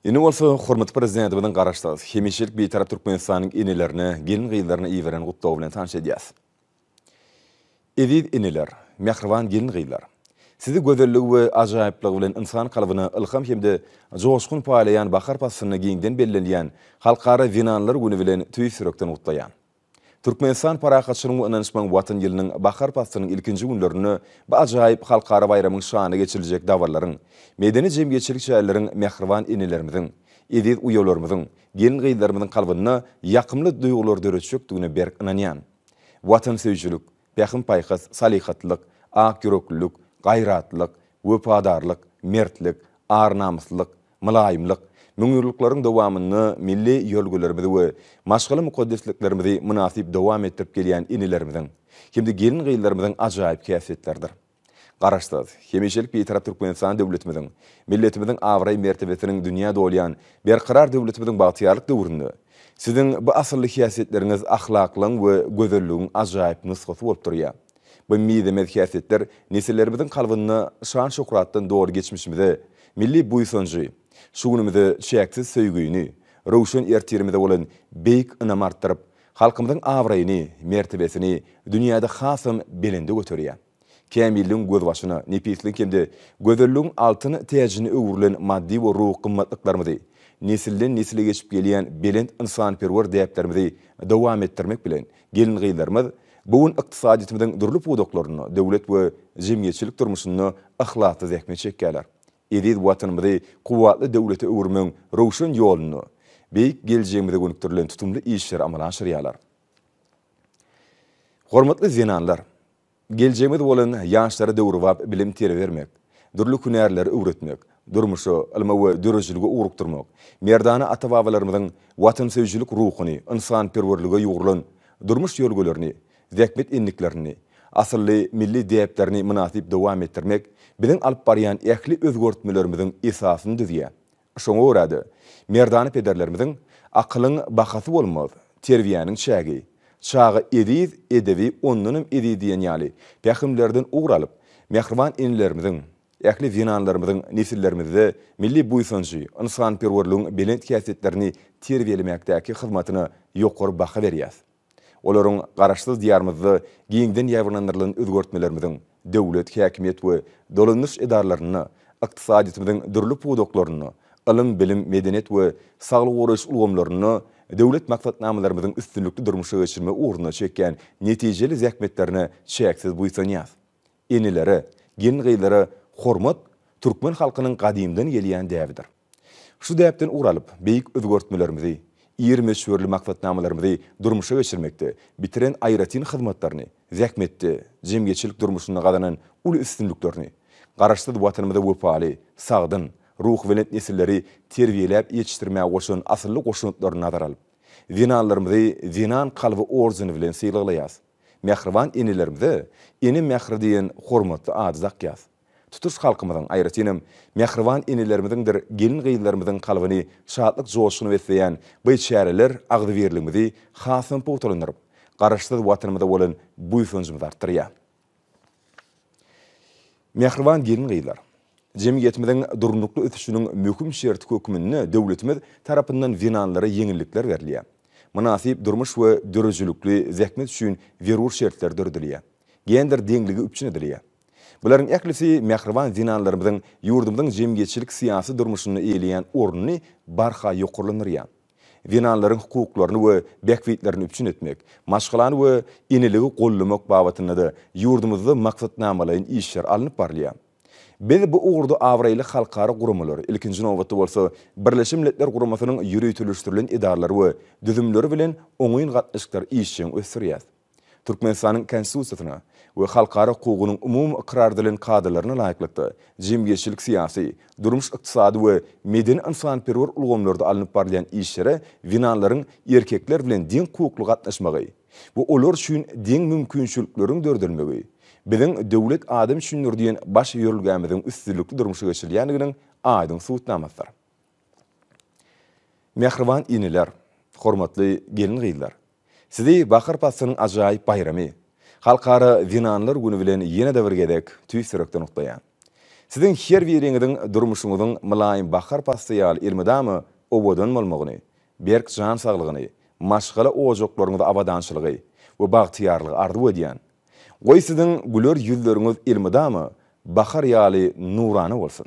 Indi bolsa hormatly Prezidentimiziň Garaşsyz, hemişelik Bitarap Türkmenistanyň enelerine, gelin-gyzlaryna iberen gutlagy bilen tanyş edýäs. Eziz eneler, mähriban gelin-gyzlar! Sizi gözelligi we ajaýyplygy bilen ynsan kalbyna ylham hem-de joşgun paýlaýan bahar paslynda giňden bellenilýän Halkara zenanlar güni bilen tüýs ýürekden gutlaýan. Türkmenistan Parahatçylygyň we ynanyşmagyň Watan ýylynyň bahar paslynyň ilkinji günlerinde bu ajaýyp halkara baýramyň şanyna geçiriljek dabarlaryň, medeni-jemgyýetçilik çäreleriň mähriban enelerimiziň, eziz uýalarymyzyň, gelin-gyzlarymyzyň kalbynda ýakymly duýgulary döretjekdigine berk ynanýan. Watansöýüjilik, pähim-paýhas, salyhatlylyk, akýüreklilik, gaýratlylyk, wepadarlyk, mertlik, ar-namyslylyk, Mylaýymlyk, müňýyllyklaryň dowamynda milli ýörelgelerimizi we maşgala mukaddesliklerimizi mynasyp dowam etdirip gelýän inilerimiziň hem-de gelin-gyzlarymyzyň ajaýyp häsiýetleridir. Garaşsyz, hemişelik Bitarap Türkmenistan döwletimiziň, milletimiziň abraý-mertebesiniň dünýä dolýan berkarar döwletimiziň bagtyýarlyk döwründe Siziň bu asylly häsiýetleriňiz ahlaklygyň we gözelligiň ajaýyp nusgasy bolup durýar. Bu mizemez häsiýetler nesillerimiziň kalbynda şan-şöhratdan doly geçmişimize, milli buýsanjy, şu günümize çäksiz söýgüni, röwşen ertirimize bolan beýik ynamy artdyryp, halkymyzyň abraýyny, mertebesini dünýäde hasam belende göterýär. Kämilligiň gözbaşyna, nepisligiň hem-de gözelligiň altyn täjine öwrülen maddy we ruhy gymmatlyklarymyzy, nesilden-nesile geçip gelýän belent ynsanperwer däplerimizi dowam etdirmek bilen, Gelin-gyzlarymyz bu gün ykdysadyýetimiziň dürli pudaklarynda, döwlet we jemgyýetçilik durmuşynda yhlasly zähmet çekýärler. Eziz Watanymyzy kuwwatly döwlete öwürmegiň röwşen ýolunda, beýik geljegimize gönükdirilen tutumly işleri amala aşyrýarlar. Hormatly zenanlar! Geljegimiz bolan ýaşlara döwrebap bilim terbiýe bermek, dürli hünärleri öwretmek, durmuşa, ylma we döredijilige ugrukdyrmak, merdana ata-babalarymyzyň watansöýüjilik ruhuny, ynsanperwerlige ýugrulan durmuş ýörgülerini, zähmet endiklerini, asylly milli däplerini mynasyp dowam etdirmek biziň alyp barýan ähli özgertmelerimiziň esasyny düzýär, Şoňa görä-de, merdana pederlerimiziň, Akylyň bahasy bolmaz, terbiýäniň çägi, Çaga eziz, edebi ondanam eziz diýen ýaly pähimlerden ugur alyp, mähriban enelerimiziň, ähli zenanlarymyzyň nesillerimizde milli buýsanjy, ynsanperwerligiň belent häsiýetlerini terbiýelemekdäki hyzmatyna ýokary baha berýäs. Olaryň Garaşsyz Diýarymyzda giňden ýaýbaňlandyrylan özgertmelerimiziň döwlet, häkimiýet we dolandyryş edaralarynda, ykdysadyýetimiziň dürli pudaklarynda, ylym-bilim, medeniýet we saglygy goraýyş ulgamlarynda döwlet maksatnamalarymyzyň üstünlikli durmuşa geçirilmegi ugrunda çekýän netijeli zähmetlerine çäksiz buýsanýas. Enelere, gelin-gyzlara hormat türkmen halkynyň gadymdan gelýän däbidir. Şu däpden ugur alyp, beýik özgertmelerimizi, ir möçberli maksatnamalarymyzy durmuşa geçirmekde bitiren aýratyn hyzmatlaryny, zähmetde, jemgyýetçilik durmuşynda gazanan uly üstünliklerini, Garaşsyz Watanymyza wepaly, sagdyn, ruhubelent nesilleri terbiýeläp ýetişdirmäge goşan asylly goşantlaryny nazara alyp, zenanlarymyzy Zenan kalby ordeni bilen sylaglaýarys. Mähriban enelerimize Ene mähri diýen hormatly ady dakýarys. Tutuş halkymyzyň, aýratynam, mähriban enelerimiziňdir gelin-gyzlarymyzyň kalbyny şatlyk-joşguna besleýän by çäreler agzybirligimizi hasam pugtalandyryp, Garaşsyz Watanymyza bolan buýsanjymyzy artdyrýar. Mähriban gelin-gyzlar! Jemgyýetimiziň durnukly ösüşiniň möhüm şerti hökmünde döwletimiz tarapyndan zenanlara ýeňillikler berilýär. Mynasyp durmuş we döredijilikli zähmet üçin zerur şertler döredilýär. Gender deňligi üpjün edilýär. Bularyň ählisi mähriban zenanlarymyzyň ýurdumyzyň jemgyýetçilik-syýasy durmuşynda eýeleýän ornuny barha ýokarlandyrýar. Zenanlaryň hukuklaryny we bähbitlerini üpjün etmek, maşgalany we eneligi goldamak babatynda-da ýurdumyzda maksatnamalaýyn işler alnyp barylýar. Biz bu ugurda abraýly halkara guramalar, ilkinji nobatda bolsa, Birleşen Milletler Guramasynyň ýöriteleşdirilen edaralary we düzümleri bilen oňyn gatnaşyklary işjeň ösdürýäris. Türkmenistanyň Konstitusiýasyna we halkara hukugynyň umumy ykrar edilen kadalaryna laýyklykda, jemgyýetçilik-syýasy, durmuş-ykdysady we medeni-ynsanperwer ulgamlarda alnyp barylýan işlere zenanlaryň erkekler bilen deň hukukly gatnaşmagy we olar üçin deň mümkinçilikleriň döredilmegi Biziň Döwlet adam üçindir! diýen baş ýörelgämiziň üstünlikli durmuşa geçirilýändiginiň aýdyň subutnamasydyr. Mähriban eneler, hormatly gelin-gyzlar! Sizi bahar paslynyň ajaýyp baýramy, Halkara zenanlar güni bilen ýene-de bir gezek tüýs ýürekden gutlaýan. Siziň her biriňiziň durmuşyňyzyň mylaýym bahar pasly ýaly elmydama owadan bolmagyny, berk jan saglygyny, maşgala ojaklaryňyzda abadançylygy we bagtyýarlygy arzuw edýän. Goý siziň güler ýüzleriňiz elmydama bahar ýaly nurana bolsun!